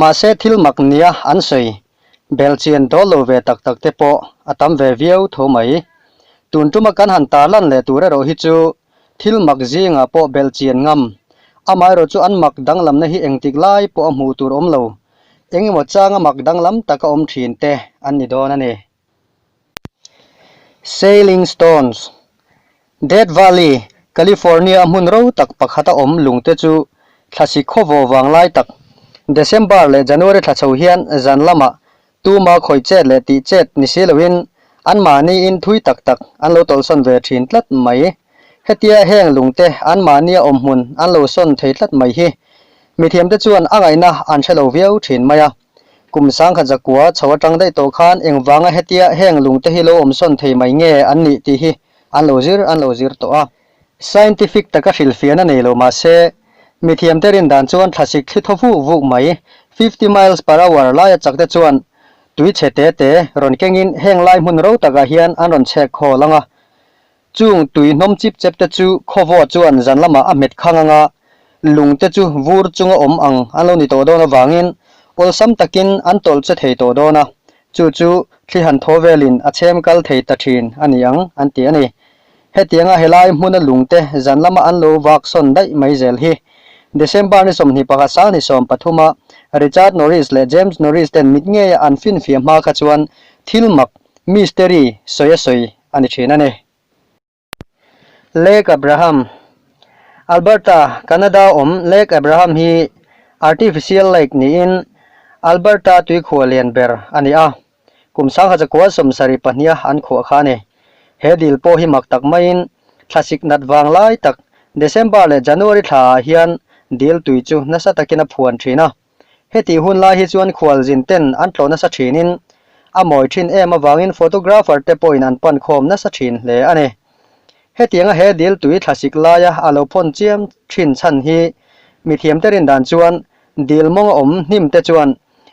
Mahse thil mak nia an sawi belchian dawl lo ve tak tak te pawh a tam ve viau tho mai. Tun tuma kan han tarlan leh tur erawh hi chu thil mak zingah pawh belchian ngam, amaherawh chu an mak danglamna hi engtik lai pawh a hmuh tur awm lo, engemaw changa mak danglam taka awm thin te an ni dawn a ni. Sailing Stones, Death Valley, California a hmun ro tak pakhat a awm lungte chu thla si khawvaw vang lai tak, December leh January thla chho hian zan lama tuma khawi chet leh tih chet ni si loin anmahniin thui tak tak an lo tawlhsawn ve thin tlat mai. Hetia heng lungte anmahnia awm hmun an lo sawn thei tlat mai hi mithiamte chuan a ngaihna an hre lo viau thin mai a. Kum sangkhat zakua chho atang daih tawh khan engvanga hetia heng lungte hi lo awm sawn thei mai nge an nih tih hi an lo zir an lo zir tawh a. Scientific taka hrilhfiah na nei lo mah se, mithiamte rindan chuan thlasik thli thaw vuk vuk mai fifty miles per hour laia chakte chuan tui chhe te te rawn kengin heng lai hmun ro takah hian an rawn chhek hawl ang a. Chung tui hnawm chip chep te chu khawvua chuan zan lamah a hmet khang anga lung te chu vur chunga awm ang an lo ni tawh dawn avangin awlsam takin an tawlh che thei tawh dawn a, chu chu thli han thaw velin a chhem kal thei ta thin a ni ang an ti a ni. Hetianga helai hmuna lungte zan lama an lo vak sawn daih mai zel hi December ni sawmhnih pakhat sang ni sawm pathuma Richard Norris leh James Norris ten mitngeia an finfia hma kha chuan thil mak, mystery, sawi a sawi a ni thin a ni. Lake Abraham, Alberta, Canada a awm Lake Abraham hi artificial lake niin Alberta tuikhua lian ber a ni a, kum sanghacha kual sawm sarih pahnia an khuah kha a ni. He dil pawh hi mak tak maiin thlasik nat vang lai tak December leh January thlaah hian dil tui chu nasa takin a phuan thin a. Heti hun lai hi chuan khualzin ten an tlo nasa thinin a mawi thin em avangin photographer te pawhin an pan khawm nasa thin hle a ni. Hetianga he dil tui thlasik laia a lo phawn chiam thin chhan hi mithiamte rindan chuan dil mawnga awm hnim te chuan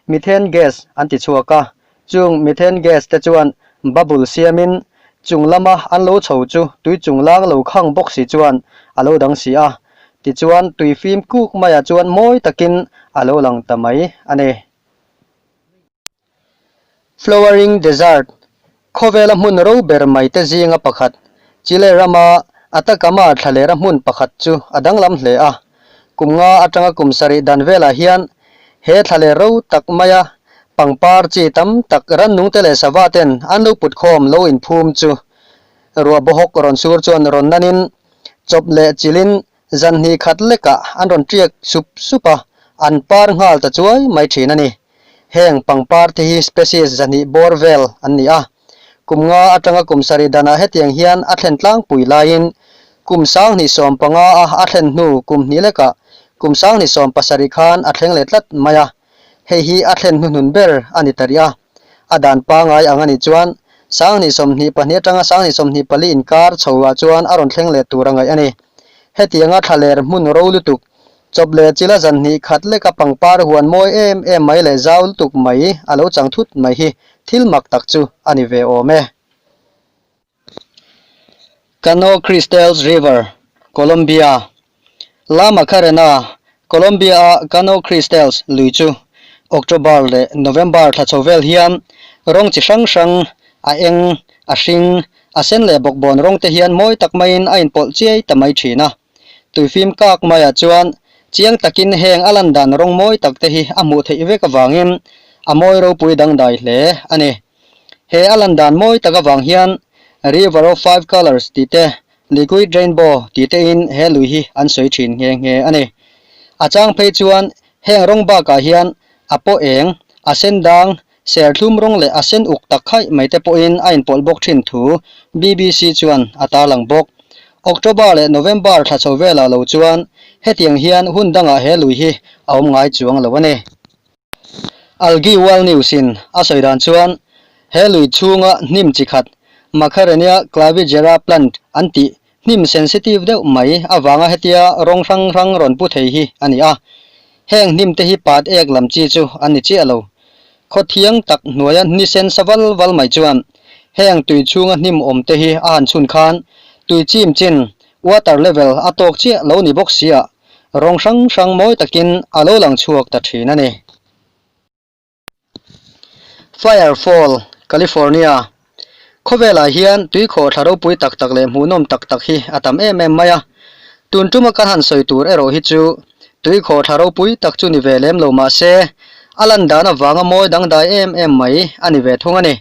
methane gas an ti chhuak a, Chung methane gas te chuan bubble siamin chung lama an lo chho chu tui chung lang lo khang bawk si chuan a lo dang si a, tichuan tui fim kuk maiah chuan mawi takin a lo lang ta mai a ni. Flowering Desert, Khawvela hmun ro ber mai te zinga pakhat, Chile rama Atacama thlahlera hmun pakhat chu a danglam hle a. Kum nga atanga kum sarih dan velah hian he thla leh ro tak maia pangpar chi tam tak Rannungte leh Sava ten an lo putkhawm lo inphum chu ruah bohawk rawn sur chuan rawn nanin chawp leh chilhin zan hnih khat lekah an rawn tiak sup sup a, an par nghal ta chuai mai thin a ni. Heng pangpar te hi species zahnih bawr vel an ni a. Kum nga atanga kum sarih dan ah hetiang hian a thlen tlangpui laiin kum sanghnih sawm panga a a thlen hnu kum hnih lekah kum sanghnih sawm pasarih khan a thleng leh tlat mai a, hei hi a thlen hnu hnun ber a ni ta rih a. A dan pangai ang a nih chuan sanghnih sawm hnih pahnih atanga sanghnih sawm hnih pali inkar chho ah chuan a rawn thleng leh tur a ngaih a ni. Hetianga thla ler hmun ro lutuk Chawp leh chil a zan hnih khat lek a pangpar huan mawi em em mai leh zau lutuk mai a lo chang thut mai hi thil mak tak chu a ni ve awm e. Cano Cristales River, Colombia Lama kha rena Colombia-a Cano Cristales lui chu October leh November thla chho vel hian rawng chi hrang hrang, a eng, a hring, a sen leh bawkbawn rawng te hian mawi tak maiin a inpawlh chiai ta mai thin a. Tuifim kak maiah chuan chiang takin heng a lan dan rawng mawi tak te hi a hmuh theih vek avangin a mawi ropui dangdai hle a ni. He a lan dan mawi tak avang hian River of Five Colours tih te, Liquid Rainbow tih te in he lui hi an sawi thin nghe nghe a ni. A chang phei chuan heng rawng bakah hian a paw eng, a sen dang, Serthlum rawng leh a sen uk tak khaih mai te pawhin a inpawlh bawk thin thu bbc chuan a tarlang bawk. October leh November thla chho velah lo chuan hetiang hian hun dangah he lui hi a awm ngai chuang lo a ni. Algae World News-in a sawi dan chuan he lui chhunga hnim chi khat Macharenia clavigera plant an tih Hnim sensitive deuh mai avanga hetia rawng hrang hrang rawn pu thei hi a ni a, heng hnim te hi pat ek lam chi chu an ni chiah lo. Khaw thiang tak hnuaia hni sen sa val val mai chuan heng tui chhunga hnim awm te hi a han chhun khan tui chim chin water level a tawk chiah lo ni bawk sia rawng hrang hrang mawi takin a lo lang chhuak ta thin a ni. Fire Fall, California, Khawvelah hian tuikhawh thla ropui tak tak leh hmuhnawm tak tak hi a tam em em mai a. Tun tuma kan han sawi tur erawh hi chu tuikhawh thla ropui tak chu ni ve lem lo mahse a lan dan avanga mawi dangdai em em mai a ni ve thung a ni.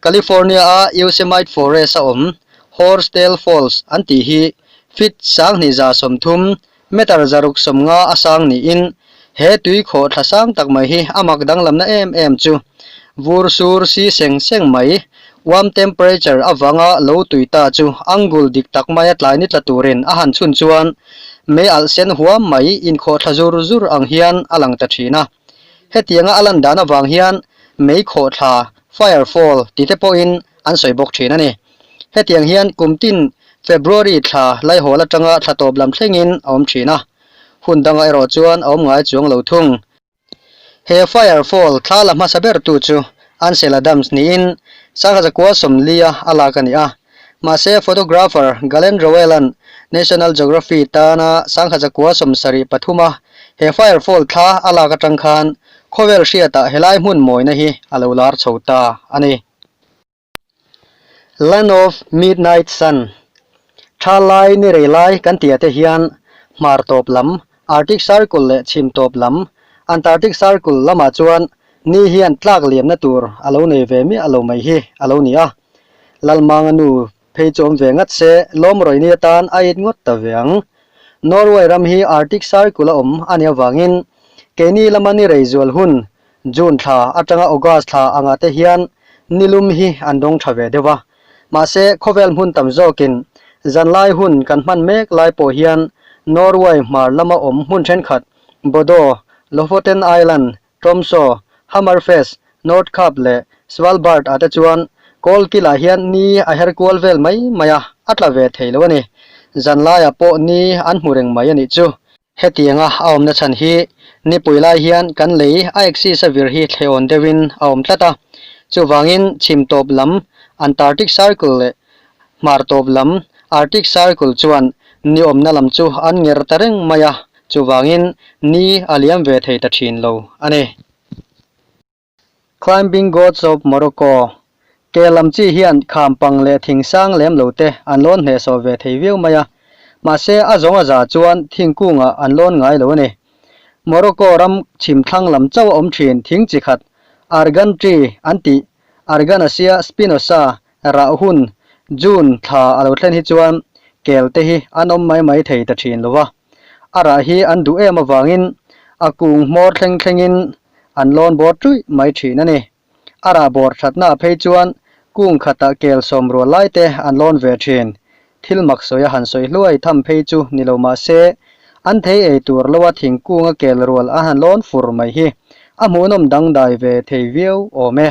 California a Yosemite Forest a awm Horsdale Falls an tih hi Fitz Sanghnihza sawmthum Meter zaruk sawm nga a sang niin he tui khawh thla sang tak mai hi a mak danglamna em em chu. Vur sur si seng seng mai, warm temperature avanga lo tui ta chu angul dik tak maia tlai ni tla turin a han chhun chuan mei alh sen huam mai, inkhawh thla zur zur ang hian a lang ta thin a. Hetianga a lan dan avang hian mei khawh thla, fire fall, tite pawhin an sawi bawk thin a ni. Hetiang hian kum tin February thla Laihawl atanga thla tawp lam thlengin a awm thin a, hun danga erawh chuan a awm ngai chuang lo thung. He fire fall thla la hmasa bertu chu Ansela Dams niin Sanghaza Kual Sawmlia a lak a ni a, mahse photographer Galen Rowell-a'n National Geography tana Sanghaza Kual Sawm sarih pathuma he fire fall thla a lak atang khan khawvel hriatah helai hmun mawina hi a lo lar chho ta a ni. Land of Midnight Sun, Tha Lai ni rei lai kan ti a te hian hmar tawp lam, Arctic Circle leh chhim tawp lam, Antarctic Circle, lamah chuan ni hian tlak liamna tur a lo nei ve miah lo mai hi a lo ni a. Lalmanga nu phei chu awm ve ngat se, lawmrawi ni atan a it ngawt ta ve ang. Norway ram hi Arctic Circle a awm a ni avangin, keini lama ni rei zual hun June thla atanga August thla anga te hian ni lum hi an dawng tha ve deuh a, mahse khawvel hmun tam zawkin zanlai hun kan hman mek lai pawh hian Norway hmar lama awm hmun thenkhat Bodo, Lofoten Island, Tromso, Hammerfest, Nordkapp leh Svalbard ah te chuan kawl kil ah hian ni a her kual vel mai mai a, a tla ve thei lo a ni. Zanlai ah pawh ni an hmu reng mai a nih chu. Hetianga a awmna chhan hi nipui lai hian kan lei a axis a vir hi thleh awn deuhin a awm tlat a, chuvangin chhim tawp lam Antarctic Circle leh hmar tawp lam Arctic Circle chuan ni awmna lam chu an nger ta reng mai a, chuvangin ni a liam ve thei ta thin lo a ni. Climbing Gods of Morocco, Ke lam chi hian kham pang leh thing sang lem lo te an lawn hnehsawh ve thei viau mai a, mahse a zawnga za chuan thingkungah an lawn ngai lo a ni. Morocco ram chhim thlang lam chauh a awm thin thing chi khat Argan Tree an ti, Arganasia spinosa, rah hun, June, thla a lo thlen hi chuan kel te hi an awm mai mai thei ta thin lo va. a rah hi an duh em avangin a kung hmawr thleng thlengin an lawn bawr ṭuih mai ṭhin a ni. A rah bawr ṭhatnaah phei chuan kung khata kel sawm rual lai te an lawn ve ṭhin. Thil mak sawi a han sawi hluai tham phei chu ni lo mah se, an thei ei tur loa thingkunga kel rual a han lawn fur mai hi a hmuhnawm dangdai ve thei viau awm e.